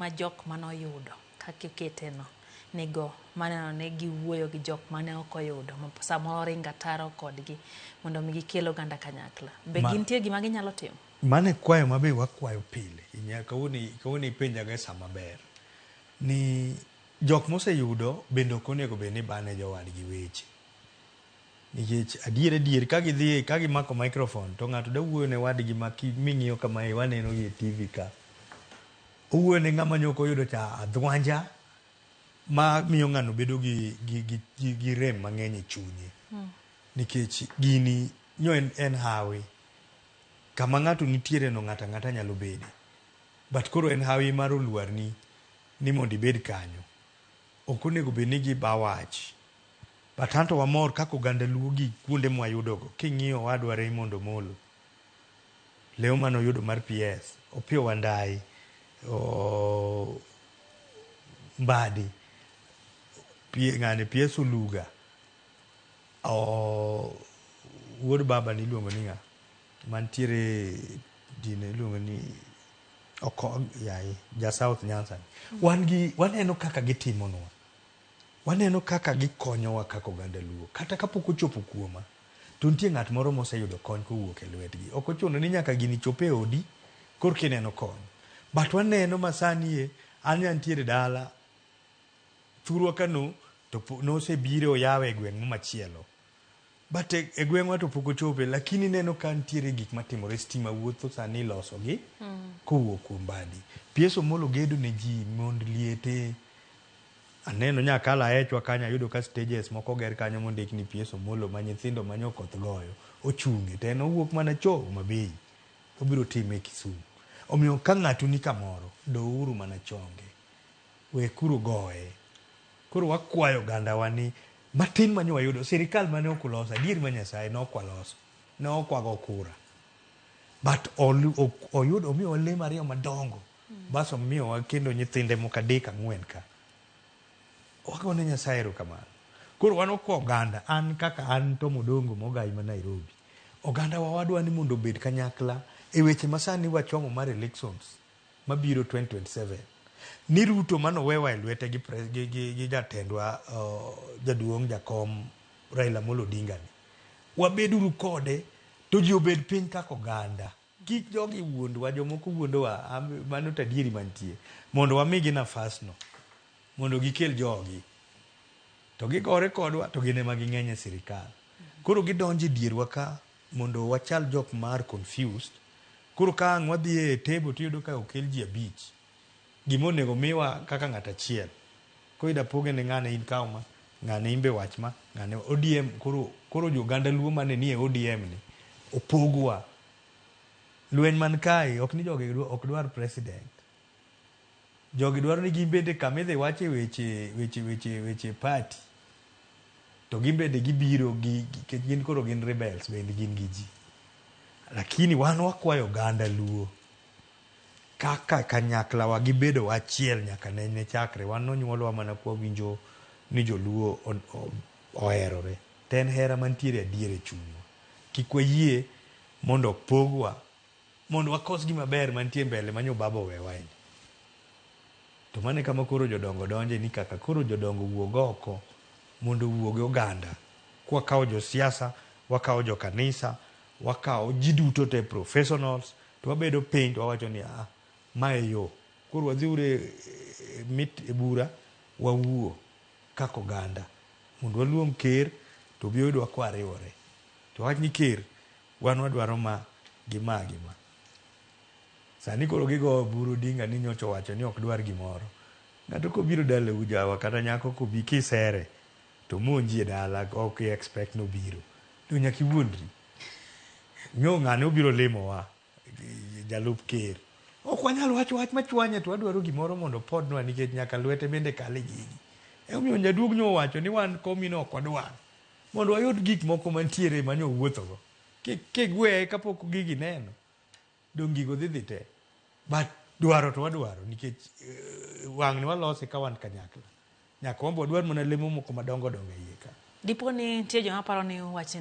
ma jok mane oyudo kaka ikete no nigo mar neno ni giwuoyo gi jok mane ok oyudo ma samoro oringo ataro kodgi mondo mi gikel oganda kanyakla. Be Ma- gintie gima ginyalo timo? Mano e kwayo ma be wakwayo pile. Inya- Kawuono kawuono ipenjaga e sa maber ni jok moseyudo bende ok onego bed ni bane jowadgi weche. Nikech adier adier ka gidhi ka gimako microphone to ng'ato da wuoyo ne wadgi ma ming'iyo kama e waneno gi e TV ka. Owuoyo ne ng'ama nyoko oyudo cha adhwanja ma miyo ng'ano bedo gi gi gi, gi, gi rem mang'eny e chunye. Hmm. Nikech gini nyo en, en hawi kama ng'ato nitiere no ng'ata ng'ata nyalo bede. But koro en hawi mar oluarni ni mondo ibed kanyo. Ok onego bed ni giba wach. But anto wamor kaka oganda luo gi kuonde mwayudogo king'iyo owadwa Raymond Omolo, lew mane oyudo mar PS, Opiyo Wandayi, Mbadi, ng'ani PS Oluga, wuod babani iluongo ni ng'a mantiere din iluongo ni Okoth yaye ja South Nyanza ni. Wan gi waneno kaka gitimonwa. Waneno kaka gikonyowa kaka oganda Luo. Kata kapok ochopo kuoma, to nitie ng'at moro moseyudo kony kowuok e lwetgi. Ok ochuno ni nyaka gini chop e odi korka ineno kony. But waneno ma sani e, an ne antiere dala thurwa ka no, to nosebire oyawe e gweng' machielo. But e gweng'wa to pok ochope lakini ineno ka nitiere gik matimore, stima wuotho sani ilosogi kowuok kuom badi. PS Omolo gedo ne ji mond liete, aneno nya kalo aechwa kanyo ayudo ka stages moko oger kanyo mondik ni PS Omolo ma nyithindo ma nyokoth goyo ochunge to en owuok mana cho Homabay obiro time Kisumu. Omiyo ka ng'ato ni kamoro douru mana chonge, wekuru goye. Koro wakwayo ogandawa ni Matin mane wayudo, sirikal mane ok uloso, adier ma Nyasaye ne ok waloso, ne ok wago kura. But olu- ok- oyudo omiyowa lemo ariyo madongo, bas omiyowa kendo nyithinde moko adek ang'wen ka. Wago ne Nyasaye erokamano. Koro wan ok oganda, an kaka an Tom Odongo mogayi ma Nairobi, oganda wa wadwa ni mondo obed kanyakla e weche masani wachomo mar elections. mabiro 2027 ni Ruto mane owewa e lwete gi, gi, gi, gi jatendwa uh, jaduong' jakom Raila Amolo Odinga ni wabeduru kode to ji obed piny kaka oganda kik jogi wuondwa jomoko wuondowa mano tadieri mantie mondo wamigi nafasno mondo gikel jogi to gigore kodwa to gin ema ging'eny e sirikal koro gidonjo e dierwa ka Mondo wachal jok ma are confused, koro ka ang' wadhi e table to iyudo ka okel ji abich, gima onego omiwa kaka ng'ato achiel, koro idwa poge ni ng'ane in kaw ma, ng'ane in be wach ma, ng'ane ODM koro koro jo oganda luo mane nie ODM ni opogwa. Lweny man kae ok ni jogi ok dwar president, Jogi dwaro ni gin bende kama idhi wache weche weche weche weche party to gin bende gibiro gi nikech gin koro gin rebels bende gin gi ji. Lakini wan wakwayo oganda Luo kaka kanyakla wa gi bedo wa achiel nyaka ne ne chakre wan nonyuolwa mana kwa winjo ni joluo oherore. To en hera mantiere adier e chunywa. Kik wayie mondo opogwa. mondo wakos gima ber mantie mbele manyo baba owewa eni to mane kama koro jodongo donje ni kaka koro jodongo wuog oko mondo wuoge oganda kwakawo josiasa wakawo jokanisa wakawo ji duto te professionals to wabedo piny to wawacho ni ah, ma e yo koro wadhiuru e, e, mit e bura wawuo kaka oganda mondo waluong ker to obi oyudwa kwariwore to wach ni ker Wan wadwaro ma gi ma gi ma. Sani koro gigowo buru Odinga ni nyocha owacho ni ok dwar gimoro. Ng'ato kobiro dalau jawa kata nyako kobi kisere to omonji e dala ok i expect ni obiro. Donge nyaka iwuondri. Nyo ng'ane obiro limowa jalup ker. Ok wanyal wacho wach machwanye to wadwaro gimoro mondo opodnwa nikech nyaka lwete bende kal e gigi. Emomiyo jaduong' nyo owacho ni wan komino ok wadwar. Mondo wayud gik moko mantiere mane owuothogo kigweye kapok gigi neno, donge gigo dhi dhi te? But dwaro to wadwaro nikech uh, wang'ni walose ka wan kanyakla. Nyaka wambo wadwar mana lemo moko madongo dongo e iye ka. Dipo ni nitie joma paro ni wachni